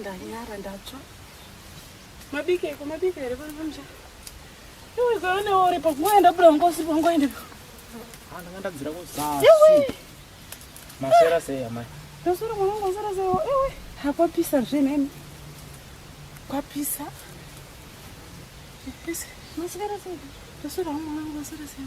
ndanyara ndatsva mabika iko mabika here pano pamusha iwekaonewo uri pakungoya ndabuda ngosi pangoendepo ndanga ndadzira kuzasi masera sei amai ndasura mwanangu masera sei ewe hakwapisa zve neni kwapisa masera sei ndasura mwanangu masera sei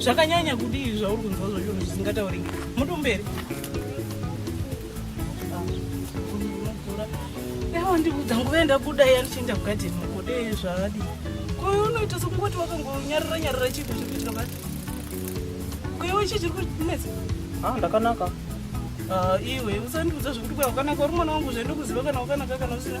zvakanyanya kudii zvauri kunzwa zvacho zvisingatauriki muti umberi yawa ndikudza nguva yendabuda iya ndichienda kugadheni ukode zvaadii kwaye unoita sekungoti wakangonyarira nyarira chiito chiri kuitika pati kwewe chii chiri kunetsa ah, ndakanaka ah, iwe usandiudza zvekuti kwa wakanaka uri mwana wangu zvaindokuziva kana wakanaka kana usina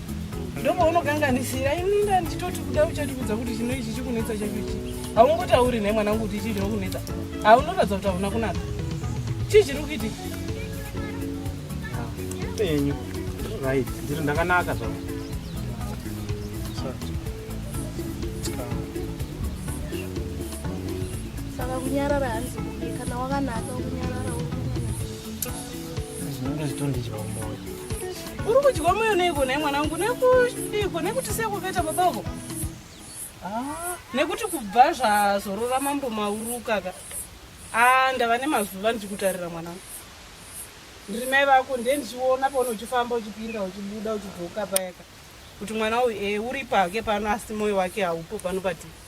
ndomaunokanganisira ini ndanditoti kuda uchatiudza kuti chino ichi chikunetsa chacho chii haungotauri nhai mwana wangu kuti chii chinokunetsa haunoratidza kuti hauna kunaka chii chiri kuitika penyu right ndiri ndakanaka zvavo saka kunyarara hanzi kana wakanaka kunyarara zvinenge zvitondidya umoyo Uri kudyiwa moyo neiko nhai mwana wangu nekuiko nekuti sekuveta baba uko ah, nekuti kubva zvazorora mambo maurukaka ah, ndava nemazuva ndichikutarira mwana wangu ndiri mai vako ndiye ndichiona paona uchifamba uchipinda uchibuda uchidzoka payaka kuti mwana uyu e eh, uri pake pano asi moyo wake haupo pano patii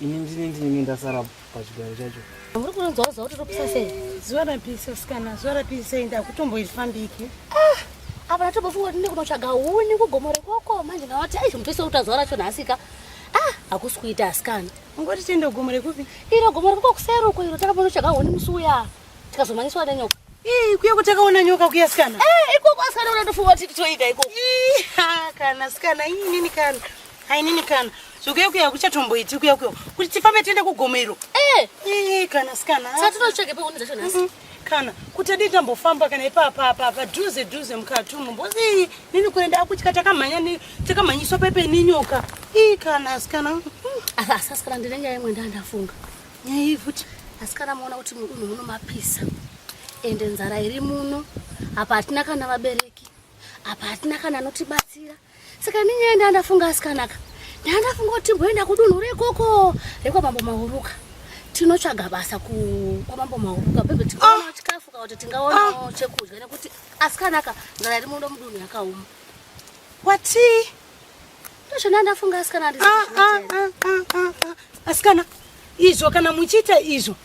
Ini ndine ndinenge ndasara pachigaro chacho. Muri kunonzwa zuva kuti ropisa sei? Zuva rapisa sikana, zuva rapisa sei ndakutomboifambiki. Ah, apa ndatombofunga kuti ndikunotsvaga huni kugomo rekoko manje ndavati aizvo mupisa uta zuva racho nhasika. Ah, hakusi kuita asikana. Ungoti tiende kugomo rekupi? Iro gomo rekoko kuseri uko iro takaponotsvaga huni musi uya tikazomanyiswa nenyoka. Ii, kuya kuti akaona nyoka kuya sikana. Eh, ikoko asikana unatofunga kuti titoita ikoko. Ii, ha, kana sikana inini kana. Ainini kana zvokuyekuya kuchatomboiti kuyekuya kuti tifambe tiende kugomo iro. Eh, Eh, kana sikana. saka tinotsvage pekuni dzacho nhasi. Mhm. Kana kuti adii tambofamba kana ipapa apa apa dhuze dhuze mukati umo mbozi ii nini kuenda akutya takamhanya ni- takamhanyiswa pepe nenyoka. Ii kana sikana. Mhm. Asi asi asikana ndine nyaya imwe ndandafunga. Nyaya futi. Asikana muona kuti munhu muno mapisa. Ende nzara iri muno. Apa hatina kana vabereki. Apa hatina kana anotibatsira. Saka ini nyaya ndandafunga asikanaka. Ndandafunga kuti timboenda kudunhu rekoko rekwa mambo Mahuruka. Tinotsvaga basa ku kwa mambo Mahuruka bebe tikaona ah! chikafu kana kuti tingaona ah! chekudya nekuti asikanaka nzara iri muno mudunhu yakaoma. Wati? Ndozvo ndandafunga asikana ndizvo. Ah, asikana izvo kana muchiita izvo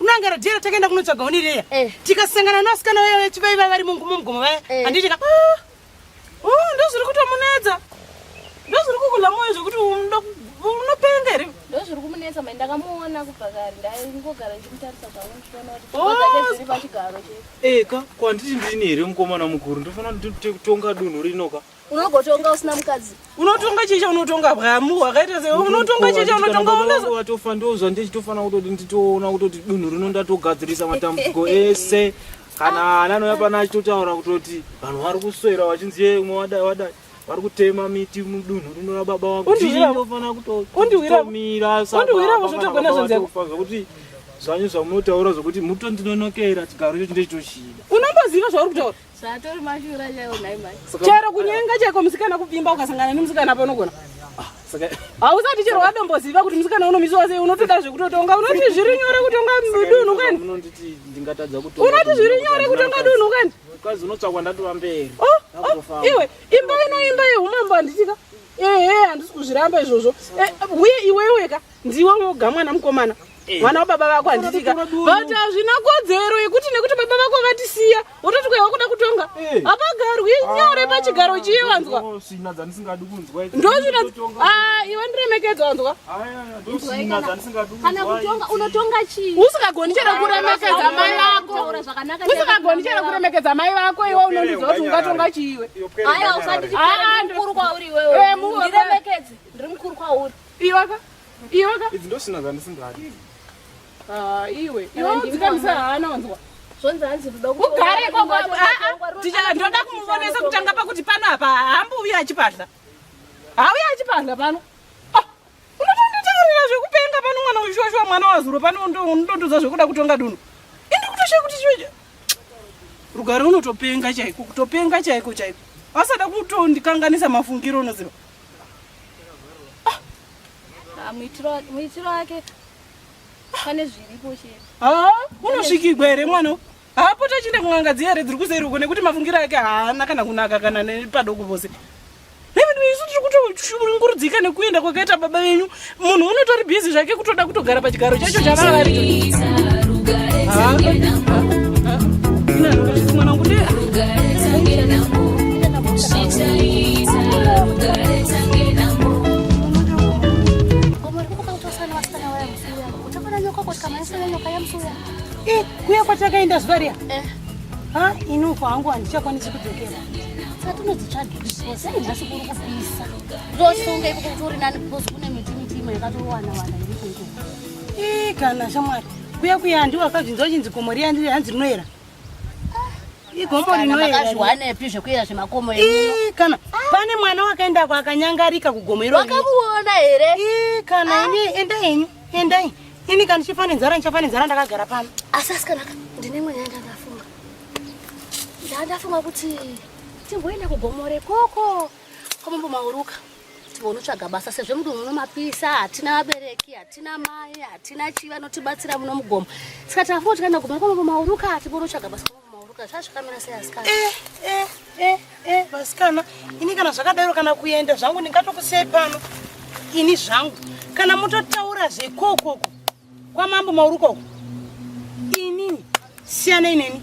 unoangara jera takaenda kunotsvaga honi reya eh. tikasangana nasikana vaya vechivaiva vari mungumo mugomo vaya eh. handiti ka ah, oh, ndozviri kutomunetsa ndozviri kukula moyo zvekuti unopenga here ndozviri kumunetsa mai ndakamuona kubva kare ndaingogara ndichimutarisa zvangu ndichiona kuti oh. zvake zviri pachigaro chee eka kwanditi ndini here mukomana mukuru ndofanira ndikutonga dunhu rinoka unogotonga usina mukadzi unotonga chii chaunotonga bwamu hwakaita se unotonga chii chaunotonga watofa ndozva ndichitofana kutoti nditoona kutoti dunhu rino ndatogadzirisa matambudziko ese kana ana anouya pana achitotaura kutoti vanhu vari kuswera vachinzi ye umwe wadai wadai vari kutema miti mudunhu rino rababa wakufanira kutomira sakutogona zvekuti zvanyu zvamunotaura zvokuti mutondinonokera chigaro icho chinde chitoshida unomboziva zvauri kutaura Zvatori mashura chaiwo nhai mai. Chero kunyenga chaiko musikana kupfimba ukasangana nemusikana apa unogona. Ah, Hausati chero wadomboziva kuti musikana unomisiwa sei unotoda zvekutotonga unoti zviri nyore kutonga dunhu kani? Unoti zviri nyore kutonga dunhu kani? Kazi unotsvakwa ndatova mberi. Oh, oh, iwe imba ino imba yeumambo handitika. Ehe handisi kuzviramba izvozvo. Eh, uye iweweka. ndiwe woga mwana mukomana eh. mwana wababa vako handitika but hazvina kodzero yekuti nekuti baba vako vatisiya wototi kwaiwa kuda kutonga eh. hapagarwi ah, nyore pachigaro chiye wanzwa ah, iwe ndiremekedzo wanzwa usikagoni chero kuremekedza mai vako usikagoni chero kuremekedza mai vako iwe unondiziva kuti ungatonga chiiwe aya usati chikuru kwauri iwewe eh, ndiremekedze ndiri mukuru kwauri Iwaka. Iwaka. Idzi ndosina dzandisingadi. Ah, iwe. Iwe dzikamisa hana wanzwa. Zvonzi hanzi kuda ku. Ugare koko. Ah ah. Ticha ndoda kumuvonesa kutanga pakuti pano apa hambu uya achipadla. Hauya achipadla pano. Ah. Unotonditaurira zvekupenga pano mwana weshuwa mwana wazuro pano ndondoza zvekuda kutonga dunhu. Indi kutoshe kuti chiwe. Rugare unotopenga chaiko, kutopenga chaiko chaiko. Asada kutondikanganisa mafungiro unoziva. Ah, muitiro wake pane zviripo chete haa unosvikigwa here mwana haapota chine kun'anga dziya here dziri kuseri uko nekuti mafungiro ake haana kana kunaka kana nepadoko vose nevinu isu tiri kutoshungurudzika nekuenda kwakaita baba venyu munhu unotori busy zvake kutoda kutogara pachigaro chacho chavava vari eh, kuya kwatakaenda zuva riya eh. ha ini uko hangu handichakwanisi kudzokera sati unodzitsvaga sei nhasi kuri kupisa ndosunga ipo kuti uri nani because kune miti miti imwe yakatowana wana iri kunze ii kana shamwari kuya kuya handi wakazvinzwa chinzi gomo riya ndiri hanzi rinoera igomo rinoerazviwanepi zvekuera zvemakomo ii kana pane mwana wakaenda kwa akanyangarika kugomo iro wakamuona here ii kana ini enda henyu endai ini kana chifa nenzara ndichafa nenzara ndakagara pano asi asikanaka ndine mweya yandandafunga ndandafunga kuti timboenda kugomore koko komambo mauruka tinotsvaga basa sezvo mudunhu muno mapisa hatina vabereki hatina mai hatina chii vanotibatsira muno mugomo saka tafo tikaenda gomera komambo mauruka tinotsvaga basa komambo mauruka zvazvakamira sei asikana eh, eh, eh, eh, vasikana ini kana zvakadaro kana kuenda zvangu ndingatokusei pano ini zvangu kana mutotaura zvekokoko Kwamambo mauri ukoko. Inini siyana ineni.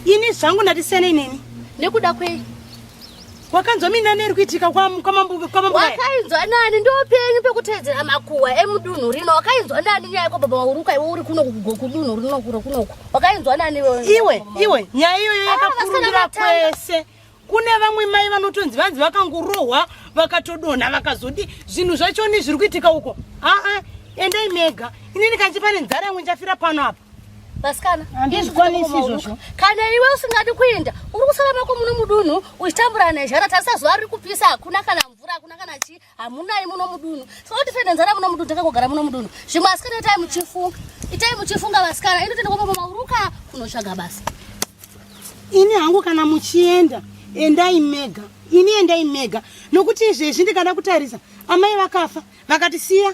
Ini zvangu ndati siyana ineni. Nekuda kwei? wakanzwa mina neri kuitika kwamambokwamambowakainzwa nani ndopenyu pekutedzera makuwa emudunhu rino wakainzwa nani nyaya yako baba wauruka iwe uri kuno kudunhu rinokuro kunoku wakainzwa nani iwe iwe nyaya iyoyo ah, yakakurundira kwese kune vamwe mai vanotonzi vanzi vakangorohwa vakatodonha vakazodi zvinhu zvachoni zviri kuitika uko aa endai mega ini ndikanzi pane nzara yamwe ndichafira pano apa vasikana ndizvikwanisi izvozvo kana iwe usingadi kuenda uri kusara mako muno mudunhu uchitambura nezhara tarisa zuva riri kupisa hakuna kana mvura hakuna kana chii hamunai muno mudunhu saka kuti fene nzara muno mudunhu takangogara muno mudunhu zvimwe asikana itai muchifunga itai muchifunga vasikana ini tende kwamama uruka kunotsvaga basa ini hangu kana muchienda endai mega ini endai mega nokuti izvezvi ndikada kutarisa amai vakafa vakatisiya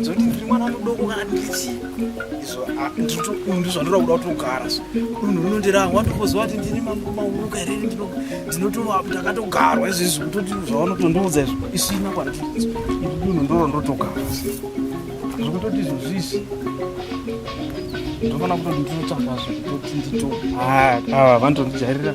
nzoti ndiri mwana mudoko kana ndichi izvo ndizvandora kuda kutogara so unhu unondira watokoziva kuti ndini mauruka here ndinotova ndakatogarwa izvizvi kutoti zvavanotondiudza izvo isina kwana unhu ndoro ndotogara zvekutoti izvo zvisi ndofana kutoti ndinotsvaka zvekutoti ndito ah, ah, vanotondijharira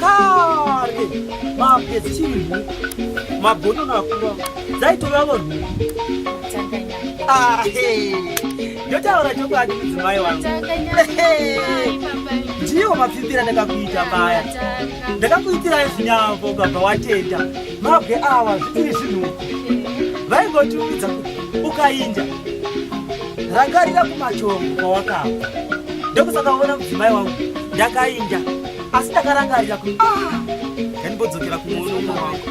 kare mapedzi chii magono nakuva dzaitova vanhu ndotaura chokwadi mudzimai wangu ndiwo mapfipira ndakakuita paya ndakakuitira zvinyambo ukabva watenda mabwe awa zvitiri zvinhuku vaingotiudza kuti ukainja rangarira kumachongo kwawakabva ndokusakaona mudzimai wangu ndakainja asi ndakarangarira kuti ah, ndanibodzokera kumuono umwe wangu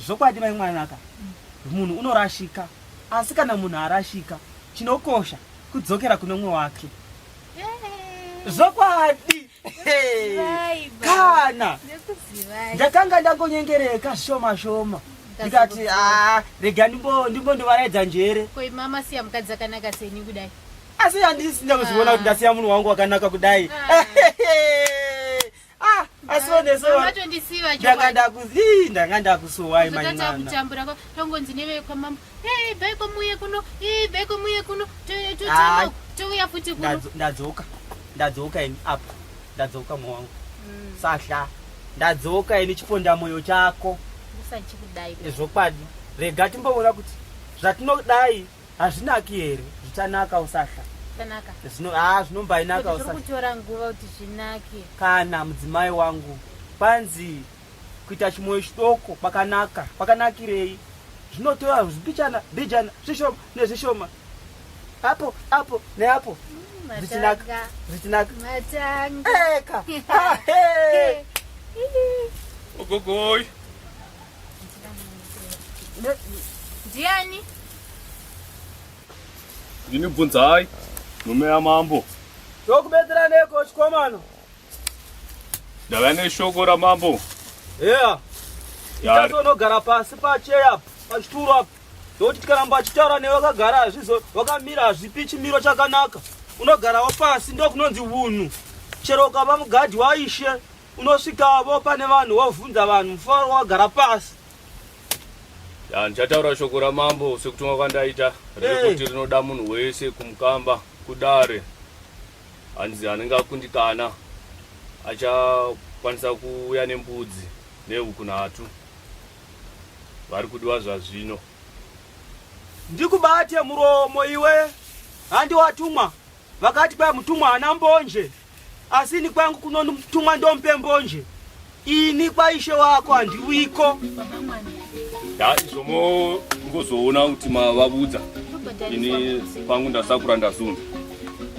zvokwadi mai mwanaka munhu unorashika asi kana munhu arashika chinokosha kudzokera kune umwe wake zvokwadi kana ndakanga ndangonyengereka shoma shoma ndikati ah, rega ndimbondovaraidza njere asi handisi ndakuzviona kuti ah. ndasiya munhu wangu wakanaka kudai ah. asi onesondanga ndakusuwai manyana Hey, ibvai kwamuuye kuno Hey, ibvai kwamuuye kuno To- to- Ah. to- touya futi kuno Ndadzo- ndadzoka ndadzoka ini apa ndadzoka mwa wangu Mm, sahla ndadzoka ini chiponda moyo chako usachikudai zvokwadi rega timboona kuti zvatinodai hazvinaki here zvichanaka usahla zvakanaka Zvino- ah, zvinombainaka Kuti tiri usahla kutora nguva kuti zvinake kana mudzimai wangu panzi Kuita chimoyo chidoko kwakanaka. Kwakanakirei? Zvinotora zvibichana bijana zvishoma nezvishoma apo apo neapo zvichinaka zvichinaka eka ah, ogogoi ndiani ndinibvunzai mume yamambo tokubetseraneko chikomano ndava neshoko ramambo yeah. ichazonogara pasi pacheya pachituro apo nokuti tikaramba achitaura newe wakagara hazvizo wakamira hazvipi chimiro chakanaka unogarawo pasi ndokunonzi vunhu chero ukava mugadhi waishe unosvikavo pane vanhu wovhunza vanhu mufaro wagara pasi ndichataura shoko ramambo sekutumwa kwandaita rekuti rinoda munhu wese kumukamba kudare hanzi anenge akundikana achakwanisa kuuya nembudzi nehuku nhatu vari kudiwa zvazvino ndikubate muromo iwe handi watumwa vakati kwai mutumwa hana mbonje asi ini kwangu kunotumwa ndompe mbonje Ini kwaishe wako handiwiko. Ya izomo ngozoona kuti mavabudza. Ini pangu ndasakura ndazunda.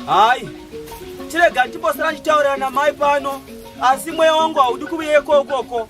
Hayi. Chirega ndibosera chitaurira na mai pano. Asi mweya wangu haudi kuuya ikoko.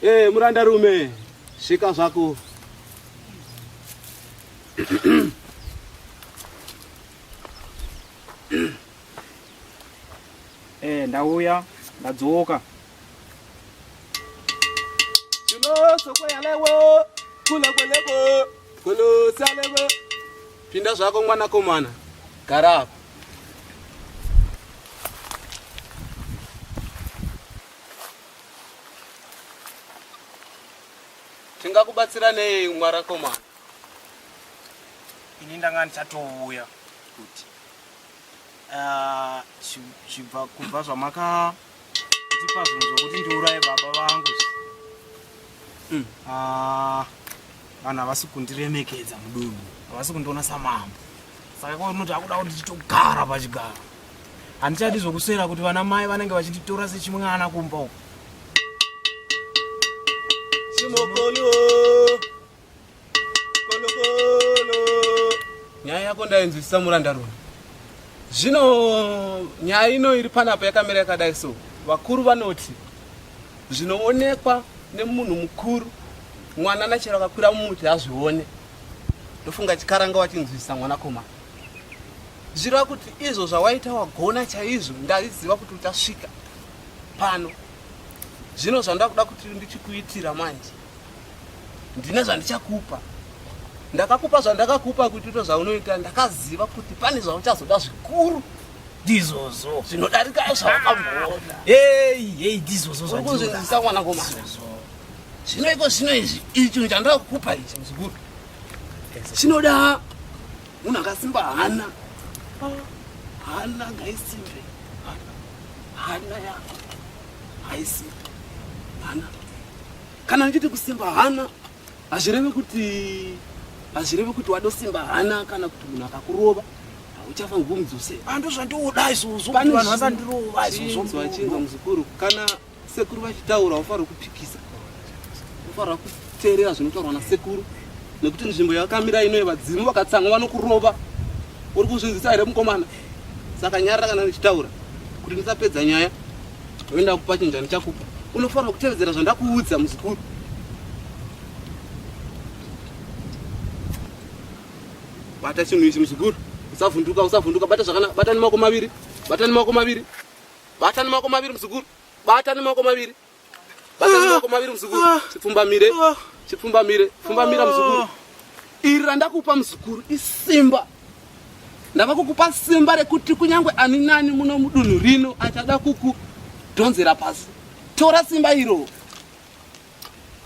Hey, eh, muranda rume svika zvako eh, ndauya ndadzoka Kolo soko yalewo, kula kweleko, kolo salewo. Pinda zvako mwanakomana, gara apa. Tingakubatsira nei mwanakomana? Ini ndanga ndichatouya kuti ah, kubva zvamaka uh, Ndipazunzo kuti ndiuraye baba vangu. Mm. Ah, vana vasi kundiremekedza mudunhu. Vasi kundiona samambo. Saka kwa unoti akuda kuti titogara pachigaro. Handichadi zvokuswera kuti vana mai vanenge vachinditora sechimwana kumba uko. Chimokoni. nyaya yako ndainzwisisa muranda runa zvino nyaya ino iri panapa yakamira yakadai so vakuru vanoti zvinoonekwa nemunhu mukuru mwana nachero akakwira mumuti hazvione ndofunga chikaranga wachinzwisisa mwanakomana zvireva kuti izvo zvawaita wagona chaizvo ndaiziva kuti uchasvika pano zvino zvandakuda kuti ndichikuitira manje ndine zvandichakupa ndakakupa zvandakakupa kuti uto zvaunoita ndakaziva kuti pane zvauchazoda zvikuru ndizvozvo zvinodarika zvawakamuona ei ei ndizvozvo zvaukuzivisisa mwana komana zvino iko zvino izvi icho chandira kukupa ichi muzukuru chinoda munhu akasimba hana hana ngaisimbe hana yako haisi hana kana ndichiti kusimba hana hazvireve kuti hazvireve kuti wadosimba hana kana kuti munhu akakurova uchafa ngumdzose ando ah, zvandiuda izvozvo vanhu vasandirova izvozvo muzukuru kana sekuru vachitaura ufanira kupikisa Unofanira kuteerera zvinotaurwa nasekuru nekuti nzvimbo yakamira ino yevadzimu vakatsanga vanokurova. Uri kuzvinzisa here mukomana? Saka nyarara kana ndichitaura kuti ndisapedza nyaya oenda kupa chinja ndichakupa. Unofanira kutevedzera zvandakuudza muzukuru. Bata chinhu ichi muzukuru, usavhunduka, usavhunduka, bata zvakanaka, bata nemaoko maviri, bata nemaoko maviri, bata nemaoko maviri muzukuru, bata nemaoko maviri. Bata mako maviri muzukuru. Ah. Chipfumbamire. Ah. Chipfumbamire. Pfumbamira ah. muzukuru. Iri randakupa muzukuru isimba. Ndava kukupa simba rekuti kunyangwe ani nani muno mudunhu rino achada kuku dhonzera pasi. Tora simba iro.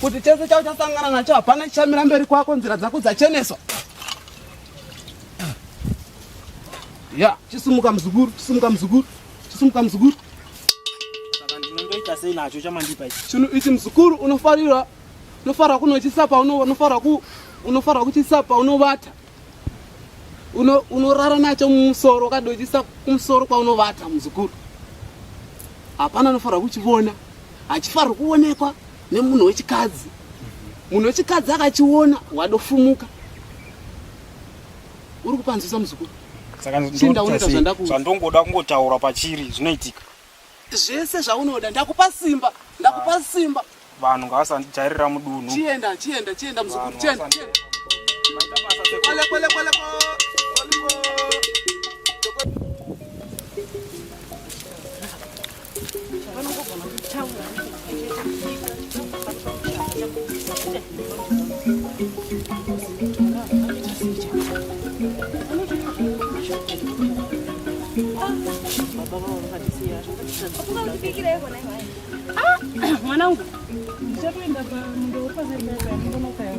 kuti chese chauchasangana nacho hapana chichamira mberi kwako nzira dzako dzacheneswa ya chisumuka muzukuru chisumuka muzukuru chisumuka muzukuru chinhu ichi muzukuru unofarira unofarira kunochisa paunofarira kuchisa paunovata uno unorara nacho mumusoro ukadochisa kumusoro kwaunovata muzukuru hapana anofanira kuchivona hachifanirwa kuonekwa nemunhu wechikadzi munhu wechikadzi akachiona wadofumuka uri kupanzwisa muzukuru saka ndongoda kungotaura pachiri zvinoitika zvese zvaunoda ndakupa simba ndakupa ah. simba vanhu ngavasandijairira mudunhu chienda chienda chienda muzukuru chienda mwanangu ndichatoenda pamundo wepazaiaaa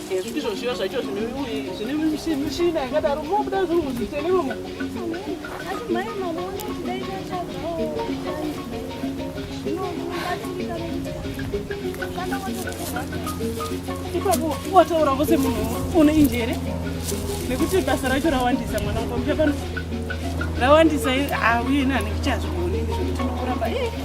ndizvo zviya zvacho zvine mishina yakadaro mobuda zvinhu muzvitenero ipapo wataura vose munhu une injere nekuti basa racho rawandisa mwana wako muchapano rawandisa auye nani kuchazvigoni zvekuti nokuramba